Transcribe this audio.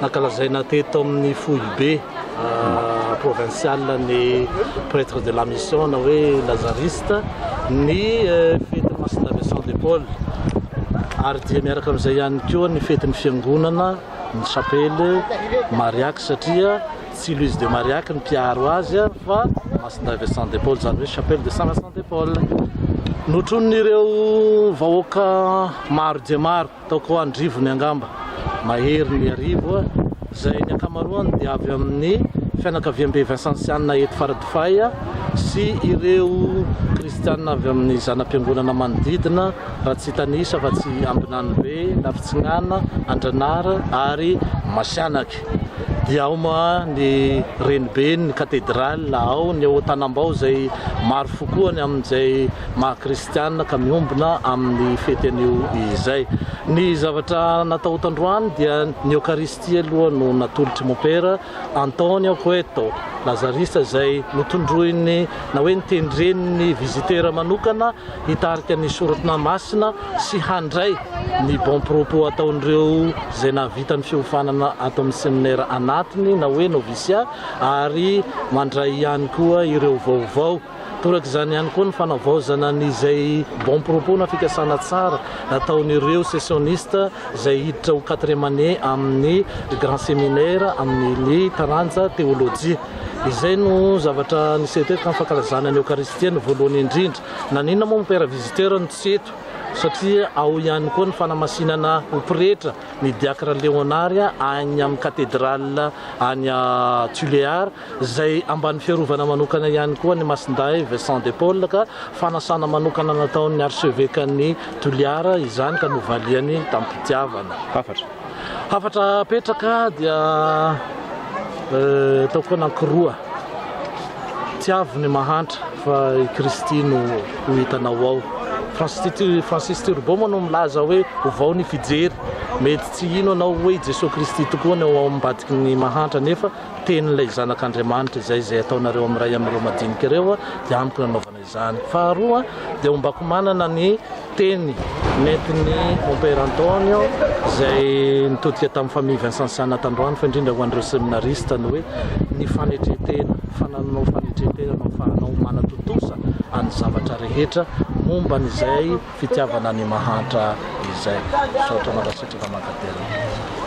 Nankalazaina teto amin'ny foibe provinsialy ny Pretre de la Mission na hoe Lazariste ny fetin'ny Masindahy Vincent de Paul ary dia miaraka amin'izay ihany koa ny fetin'ny fiangonana ny chapelle Mariac satria tsy Louise de Mariac ny mpiaro azy fa Masindahy Vincent de Paul izany hoe chapelle de Saint Vincent de Paul. Notronin'ireo vahoaka maro dia maro Tao Koandrivony angamba, mahery ny arivo a, izay ny ankamaroany dia avy amin'ny fianakaviambe vinsansianina eto Faradofay a, sy ireo kristianina avy amin'ny zana-piangonana manodidina, raha tsy hitanisa fa tsy Ambinanibe, Lafitsinana, Andranara ary Masianaky. Dia ao moa ny renibeny, ny katedraly, ao ny ao Tanambao izay maro fo koa ny amin'izay maha-kristianina. Kristiana ka miombona amin'ny fety anio izay. Ny zavatra natao tandroany dia ny Eokaristia aloha no natolotr'i Mopera Antonio Cueto, Lazarista izay notondroiny na hoe notendren'ny vizitera manokana hitarika ny Sorona Masina sy handray ny bon propos ataon'ireo izay nahavita ny fiofanana ato amin'ny seminera anatiny na hoe noviciat ary mandray ihany koa ireo vaovao Torak'izany ihany koa ny fanavaozana ny izay bon propos na fikasana tsara ataon'ireo sessionistes izay hiditra ho quatrième année amin'ny grand séminaire amin'ny taranja Théologie. Izay no zavatra niseho teto tamin'ny fankalazana ny Eokaristia ny voalohany indrindra. Naninona moa ny Père Visiteur no tsy eto? Satria ao ihany koa ny fanamasinana ho pretra ny Diacre Léonard any amin'ny Cathedrale any Tuléar izay ambany fiarovana manokana ihany koa ny Masindahy Vincent de Paul ka fanasana manokana nataon'ny Archevekan'ny Toliara izany ka novaliany tamim-pitiavana. Hafatra. Hafatra apetraka dia eh, taoko anankiroa. Tiavo ny mahantra fa i Kristy no ho hitanao ao. Francis Turbo moa no milaza hoe ovao ny fijery. Mety tsy hino anao hoe i Jesoa Kristy tokoa no ao ambadiky ny mahantra nefa Tenin'ilay Zanak'Andriamanitra izay izay ataonareo amin'ny iray amin'ireo madinika ireo dia amiko no anaovana izany. Faharoa dia ombako manana ny teny nentin'i Mompera Antonio izay nitodika tamin'ny Famille Vincensiana tandroany fa indrindra ho an'ireo seminarista ny hoe ny fanetren-tena, fanananao fanetren-tena no afahanao manatontosa an'ny zavatra rehetra momba an'izay fitiavana ny mahantra izay. Misaotra mandasitraka Mankatelina.